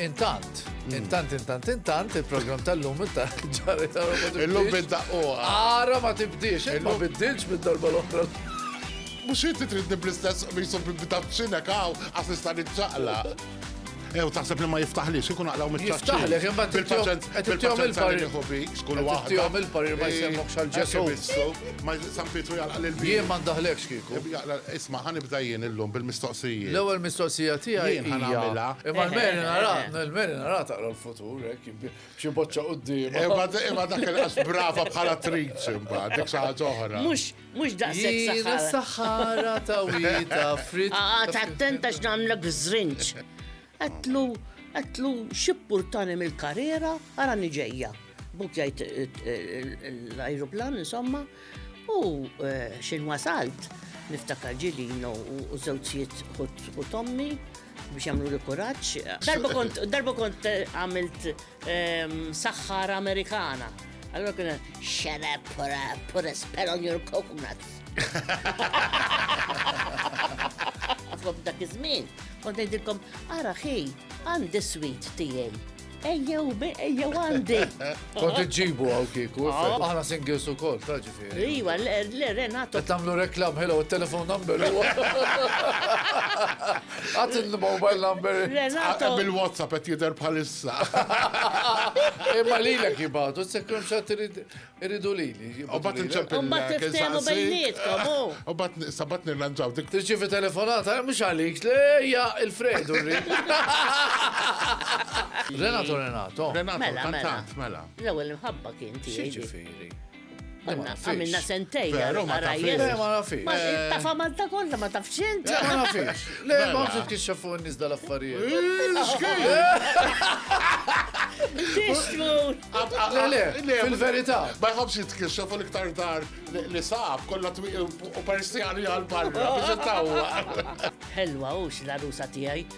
Intant, intant, intant, intant, il-program tal-lum ta' ġari ta' Il-lum bidda u. Ara ma tibdix, ma bidilx bid-darba l-oħra. Mux jinti tridni bl-istess bisu bidda b'xinek għaw, għas nista' nitċaqla. Ew taħseb li ma jiftaħlix, ikun aqlaw miċ-ċaċċi. Jiftaħlek, imma bil-paċenza qed ittihom il-parir. Kull waħda. Ittihom il-parir ma jsemmok xal Ġesu. Ma San Pietru jalqa' lil vin. Jien ma ndaħlekx kieku. Isma' ħanibda jien illum bil-mistoqsijiet. L-ewwel mistoqsija tiegħi jien ħanagħmilha. Imma l-meri nara, l-meri nara taqra l-futur hekk xi boċċa quddiem. Imma dak il-qas brava bħal attriċi mbagħad, dik xi ħaġa oħra. Mhux Mhux daqshekk saħħara. Jiena s-saħħara ta' wieta frit. Qagħad attent għax nagħmlek żrinġ. Għedtlu, għedtlu xi ppurtani mill-karriera arani ġejja. Buk jgħid l-ajruplan insomma u eh, xejn wasalt niftakar ġilino u żewġijiet u tommi biex jagħmlu li kuraġġ. Darba kont darba kont eh, għamilt Saħħara Amerikana. Allora kien shut up, put a, put a spell on your coconuts. Għafu dak iż-żmien, kont ngħidilkom, ara ħi, għandi sweet tiegħi. Ejjew, ejjew għandi. Kont iġġibu għaw kieku, aħna singles ukoll, taġi. Iwa, l-Renato. Qed tagħmlu reklam ħela u telefon number huwa. Għad il-mobile number. Renato. Bil-WhatsApp qed jidher bħalissa. Imma lilek jibgħatu, sekkum xatt iridu lili. U bat nċempillek. Tiftehmu bejnietkom. U bat sabat nirranġaw dik. Tirċivi telefonata, mhux għalik, lejja il-Fredu rrid. Renato Renato. Renato, mela, mela. kantant, mela. L-ewwel imħabba kien tiegħi. Għanna, għamilna sentej. Veru, ma tafx. Ma nafix. Ma eh, tafa Malta kollha ma tafx int. Eh, ma nafix. Le, ma mela. tafx kif xafu n-nies dal-affarijiet. Tixtmur! Le, le, fil-verità. Ma jħobx jitkixxa fuq iktar dar li saf kollha u perstjani għal-barra biex ittawwa. Helwa, ux la rusa tiegħi.